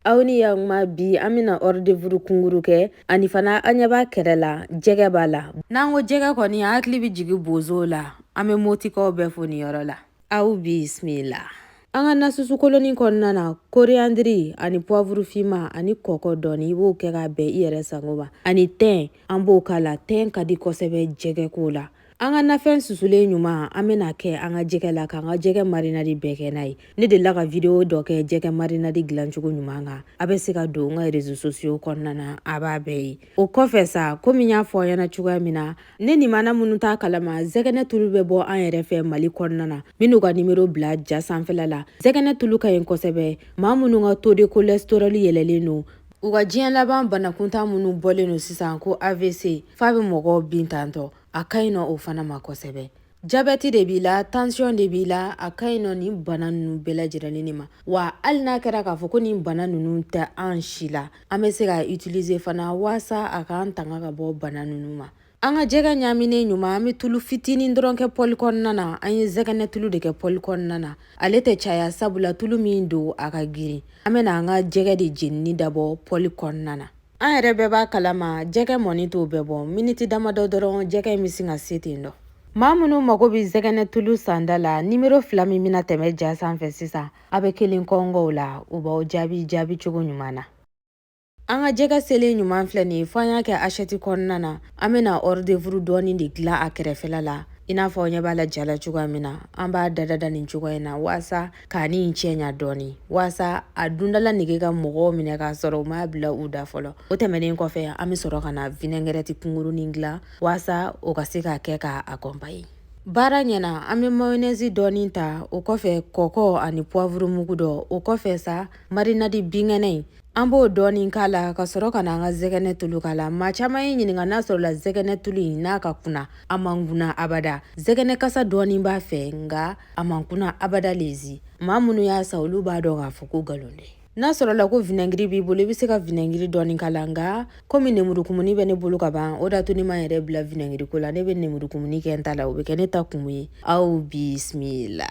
aw ni yakuma bi an bɛna ɔridevuru kunguru kɛ ani fana an ɲɛ b'a kɛrɛ la jɛgɛ b'a la n'an ko jɛgɛ kɔni an hakili bɛ jigin bozow la an bɛ motikaw bɛɛ fo nin yɔrɔ la aw bisimila an ka nasusu kolonin kɔnɔna na koreyandiri ani puwavuru finma ani kɔkɔ dɔɔni i b'o kɛ k'a bɛn i yɛrɛ sago ma ani tɛn an b'o k'a la tɛn ka di kosɛbɛ jɛgɛko la an ka nafɛn susulen ɲuman an bɛna kɛ an ka jɛgɛ la k'an ka jɛgɛ marinadi bɛɛ kɛ n'a ye ne delila ka video dɔ kɛ jɛgɛ marinadi dilancogo ɲuman kan a bɛ se ka don n ka rezo sosiyo kɔnɔna na a b'a bɛɛ ye o kɔfɛ sa komi n y'a fɔ aw ɲɛna cogoya min na ne nimana minnu t'a kalama zɛgɛnɛ tulu bɛ bɔ an yɛrɛ fɛ mali kɔnɔna na minnu ka nimero bila ja sanfɛla la zɛgɛnɛ tulu ka ɲi kosɛbɛ maa minnu ka taux de cholesterol yɛlɛlen don U ka diɲɛ laban banakuntan minnu bɔlen don sisan ko avc f'a bɛ mɔgɔw bin tantɔ a ka ɲi nɔ o fana ma kosɛbɛ jabɛti de b'i la tansiyɔn de b'i la a ka ɲi nɔ nin bana ninnu bɛɛ lajɛlen de ma wa hali n'a kɛra k'a fɔ ko nin bana ninnu tɛ an si la an bɛ se k'a utilize fana waasa a k'an tanga ka bɔ bana ninnu ma An ka jɛgɛ ɲaaminen ɲuman an bɛ tulu fitinin dɔrɔn kɛ pɔli kɔnɔna na an ye zɛgɛnɛ tulu de kɛ pɔli kɔnɔna na ale tɛ caya sabula tulu min don a ka girin an bɛna an ka jɛgɛ de jenini dabɔ pɔli kɔnɔna na an yɛrɛ bɛɛ b'a kalama jɛgɛ mɔni t'o bɛɛ bɔ miniti damadɔ dɔrɔn jɛgɛ in bɛ sin ka se ten dɔ maa minnu mago bɛ zɛgɛnɛ tulu sanda la nimero fila min bɛna tɛmɛ ja sanfɛ sisan a bɛ kelen kɔnkɔn u la u b'aw jaabi jaabicogo ɲuman na An ka jɛgɛ selen ɲuman filɛ nin ye fo an y'a kɛ assiette kɔnɔna na an bɛna hors d'œuvre dɔɔni de dilan a kɛrɛfɛla la i n'a fɔ aw ɲɛ b'a la ja la cogoya min na an b'a dada da nin cogoya in na waasa ka nin cɛ ɲa dɔɔni waasa a dundala nege ka mɔgɔw minɛ k'a sɔrɔ u m'a bila u da fɔlɔ o tɛmɛnen kɔfɛ an bɛ sɔrɔ ka na vinɛngɛrɛti kunkurunin dilan waasa o ka se ka kɛ k'a akɔnpaye baara ɲɛna an bɛ mayonɛzi dɔɔni ta o kɔfɛ kɔkɔ ani puwavurumugu dɔ o kɔfɛ sa marinadi binkɛnɛ in An b'o dɔɔnin k'a la ka sɔrɔ ka na an ka zɛgɛnɛ tulu k'a la maa caman ye n ɲininka n'a sɔrɔla zɛgɛnɛ tulu in n'a ka kunna a man kunna abada zɛgɛnɛ kasa dɔɔnin b'a fɛ nka a man kunna abada lezi maa minnu y'a san olu b'a dɔn k'a fɔ ko nkalon tɛ n'a sɔrɔla ko vinɛgiri b'i bolo i bɛ se ka vinɛgiri dɔɔnin k'a la nka komi nemurukumuni bɛ ne bolo ka ban o d'a to ne ma n yɛrɛ bila vinɛgiri ko la ne bɛ nemurukumuni kɛ n ta la o bɛ kɛ ne ta kumu ye aw bisimila